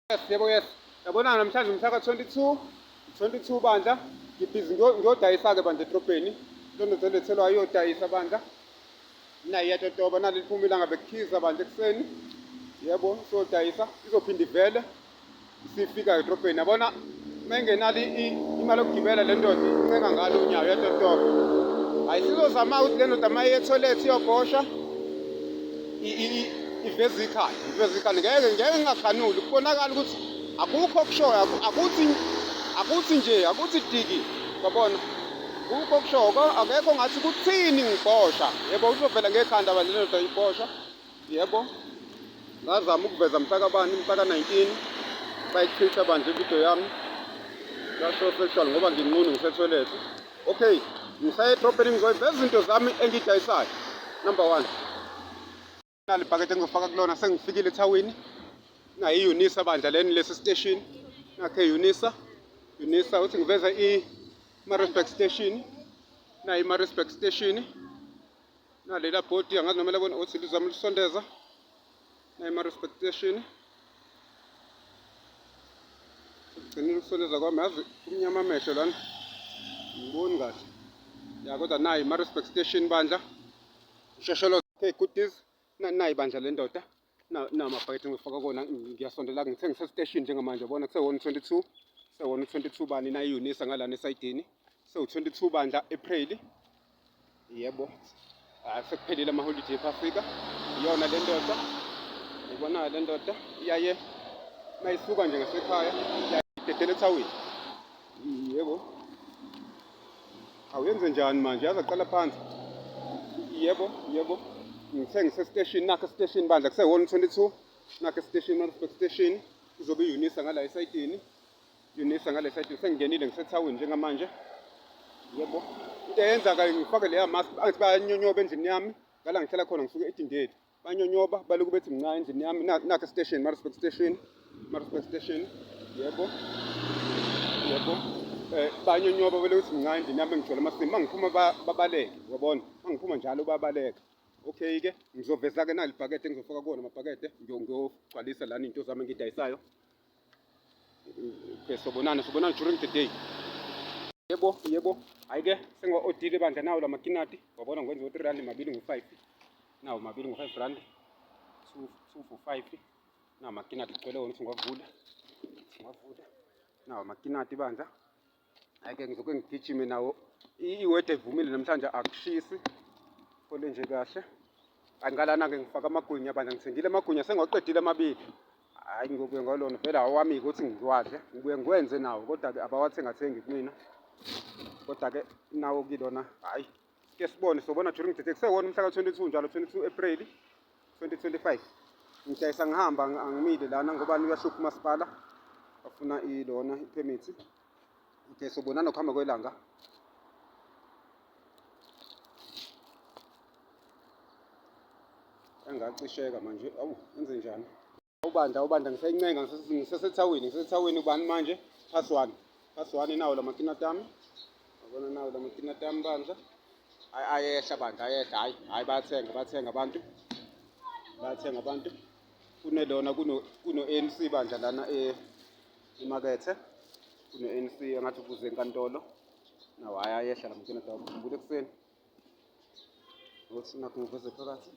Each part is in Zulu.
Yes, yebo yes. Yabona namhlanje umhlaka 22 22 bandla ngibhizi ngiyodayisa-ke bandla edrobheni londodolethelwa ayodayisa bandla naye iyatotoba nali liphuma ilanga bekukhiza bandla ekuseni yebo siyodayisa izophinde ivele sifika edrobheni yabona mengenalo imali yokugibela le ndoda incenga ngalo unyawo yatotoba hayi sizozama ukuthi le ndoda uma yetholethi iyobhosha iveza ikhanda iveza ikhanda ngeke ngeke ngingakhanuli kubonakala ukuthi akukho okushoyo akuthi akuthi nje akuthi diki yabona akukho okushoyo akekho ngathi kuthini ngibhosha yebo uzovela ngekhanda balelo ndoda ibhosha Yebo, ngazama ukuveza mhlakabani mhlaka-19 bayichitha banje ividiyo yami yasho sexual ngoba nginqunu ngisethwelethe okay ngisayedrobheni ngizoyiveza izinto zami engiyidayisayo number one nalibhakede engizofaka kulona sengifikile ethawini nayo i-unisa bandla leni lesi station nakhe unisa unisa uthi ngiveza i-marisburg station nayo i-marisburg station nalela bhodi angazi noma labona othi lizama ulisondeza nayima respectation sekugcinile ukusondeza kwami yazi kumnyama amehlo lana ngiboni kahle ya kodwa nayi ma respect station bandla usheshelo okay goodies nayi bandla lendoda namabhakede engifaka kona ngiyasondela ngithe ngisesiteshini njengamanje bona kuse-122 se-122 bani nayiyunisa ngalana esayidini sewu-22 bandla april yebo ah, sekuphelile amaholide ephafrika iyona le ndoda ibona le ndoda iyaye mayisuka nje ngasekhaya iyayidedela ethawini Yebo. Awuyenze njani manje? Yazi aqala phansi. Yebo, yebo. Ngithe ngisesiteshini nakho esiteshini bandla kusehholo 22 nakho esiteshini Maritzburg station kuzobe iyunisa ngala esayidini yunisa ngale sayidini sengingenile ngisethawini njengamanje yebo into eyenza-ke ngifake leya mask angithi bayanyonyoba endlini yami ngala ngihlala khona ngisuke edindeli banyonyoba balokhu bethi mncane endlini yami nakhe station marespect station marespect station yebo yebo eh banyonyoba balokhu bethi mncane endlini yami ngigcwele amasimu mangiphuma babaleke uyabona mangiphuma njalo babaleka okay ke ngizoveza ke nalibhakede ngizofaka kuwona amabhakede ngiyogcwalisa lana into zami engidayisayo okay sobonana sobonana during the day yebo yebo ayike sengiwa-odile bandla nawo la makinati wabona ngikwenza ngo-three rand mabili ngo-five nawo mabili ngo-five rand two two for five nawo makinati ngicele wona ukuthi ngiwavule ngiwavule nawo makinati bandla Ake ngizoke ngigijime nawo. Iwede ivumile namhlanje akushisi. Kole nje kahle. Angikalana ke ngifaka amagwinya bandla ngithengile amagwinya sengiwaqedile amabili. Hayi ngiyobuye ngolona vele awami ukuthi ngiwadle. Ngibuye ngikwenze nawo kodwa ke abawathengathengi kumina. Kodwa ke nawo kilona hayi ke sibone sobona during the day kusewona umhla ka-22 njalo 22 April 2025 ngidayisa ngihamba angimile lana ngoba uyahlupha umasipala bafuna ilona iphemithi okay sobonana ukuhamba kwelanga engacisheka manje awu enze njani ubanda ubanda ngisencenga ngisesethawini ngisesethawini ubani manje pass one pass one nawo la makinati ami yabona nawo la makinati ami bandla hayi ayehla bandla ayehla hayi hayi bayathenga bayathenga abantu bayathenga abantu kunelona kuno-anc bandla lana eh, emakethe kuno-anc engathi ubuze enkantolo nawo hayi ayehla la makinati awo ngikhumbula ekuseni ukuthi nakho ngiveze phakathi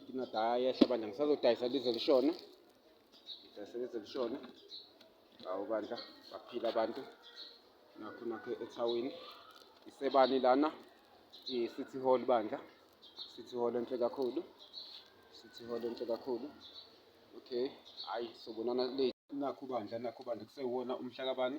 Nginadaya yehla bandla ngisazodayisa lize lishona. Ngidayise lize lishona. Hawu bandla baphila abantu. Nakho nakho ethawini. Isebani lana i-City Hall bandla. City Hall enhle kakhulu. City Hall enhle kakhulu. Okay, hayi sobonana late. Nakho bandla nakho bandla kusewona umhlakabani.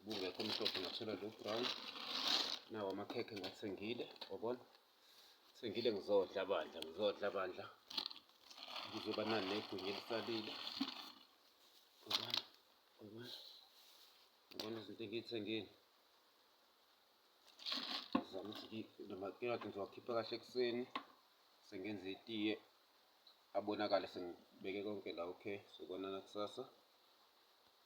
ubungekho omhlophe ngathola lo brown nawo amakhekhe ngiwathengile wabona thengile ngizodla bandla ngizodla bandla kuzoba nani negunya elisalile ubona ubona ubona izinto engiyithengile zama ukuthi namakelati ngizowakhipha kahle ekuseni sengenza itiye abonakale sengibeke konke la okay sobonana kusasa